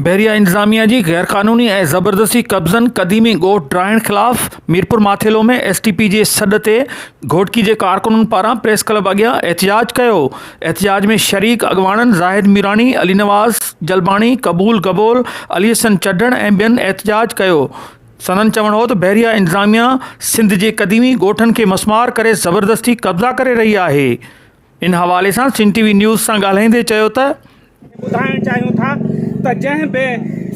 بحريه انتظاميه جي غيرقانوني ۽ زبردستي قبضن قديمي ڳوٺ ڊاهڻ خلاف Mirpur Mathelo ۾ S T P جي سڏ تي گهوٽڪي جي ڪارڪنن پاران پريس ڪلب اڳيان احتجاج ڪيو احتجاج ۾ شريڪ اڳواڻن زاهد ميراڻي علي نواز جلباڻي قبول گبول علي حسن چڍڻ ۽ ٻين احتجاج ڪيو سندن چوڻ هو ته بحريه انتظاميه سنڌ جي قديمي ڳوٺن کي مسمار ڪري زبردستي قبضا ڪري رهي آهي ان حوالي سان سنڌ ٽي وي نيوز سان ڳالهائيندي چيو ته. ٻڌائڻ چاهيون ٿا ته جنهن به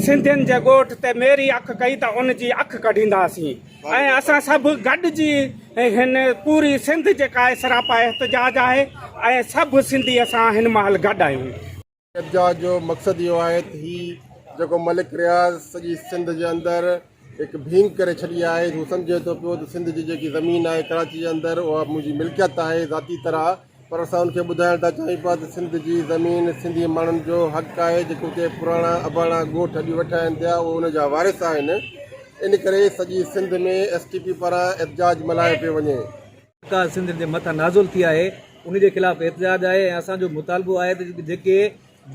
سنڌين جي ڳوٺ تي ميري اک ڪئي ته ان جي اک ڪڍينداسين ۽ اسان سڀ گڏجي هن پوري سنڌ جيڪا سراپا احتجاج آهي ۽ سڀ سنڌي اسان هن مهل گڏ آهيون. قبضا جو مقصد اهو آهي ته هي جيڪو ملڪ رياض سڄي سنڌ جي اندر هڪ ڀينگ ڪري ڇڏي آهي هو سمجهي ٿو پيو ته سنڌ جي جيڪي زمين آهي ڪراچي جي اندر اها منهنجي ملڪيت آهي ذاتي طرح پر اسان ان کي ٻڌائڻ ٿا چاهيون پيا ته سنڌ جي زمين سنڌي ماڻهن جو حق آهي جيڪي اتي پراڻا اباڻا ڳوٺ اڄ ويٺا آهن پيا اهي ان جا وارث آهن ان ڪري سڄي سنڌ ۾ ايس ٽي پي پاران احتجاج ملهايو پيو وڃي سرڪار سنڌ جي مٿان نازل ٿي آهي ان جي خلاف احتجاج آهي ۽ اسان جو مطالبو آهي ته جيڪي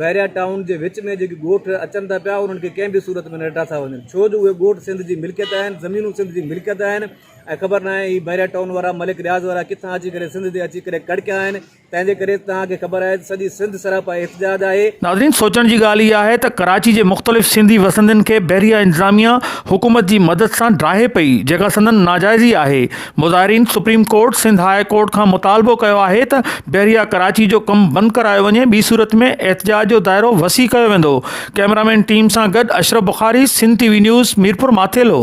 بحريا ٽائون جي وچ ۾ جيڪي ڳوٺ اچن ٿا پيا انهن کي ڪنهن به صورت ۾ نه ڊاٿا وڃن ڇو جو اهي ڳوٺ سنڌ جي ملڪيت آهن زمينون سنڌ جي ملڪيت آهن ۽ خبر ناهي هي بحريا ٽائون وارا ملڪ رياض وارا ڪٿان اچي ڪري سنڌ تي اچي ڪري ڪڙڪيا آهن تنهن جي ڪري توهان کي خبر آهي ته سڄي سنڌ سراپا احتجاج آهي. ناظرين سوچڻ جي ڳالهه اها آهي ته ڪراچي جي مختلف سنڌي وسندين کي بحريه انتظاميه حڪومت جي مدد سان ڊاهي پئي جيڪا سندن ناجائزي آهي مظاهرين supreme court Sindh high court کان مطالبو ڪيو آهي ته بحريه ڪراچي جو ڪم بند ڪرايو وڃي ٻي صورت ۾ احتجاج جو دائرو وسيع ڪيو ويندو ڪئميرامين ٽيم سان گڏ Ashraf Bukhari Sindh T V news Mirpur Mathelo.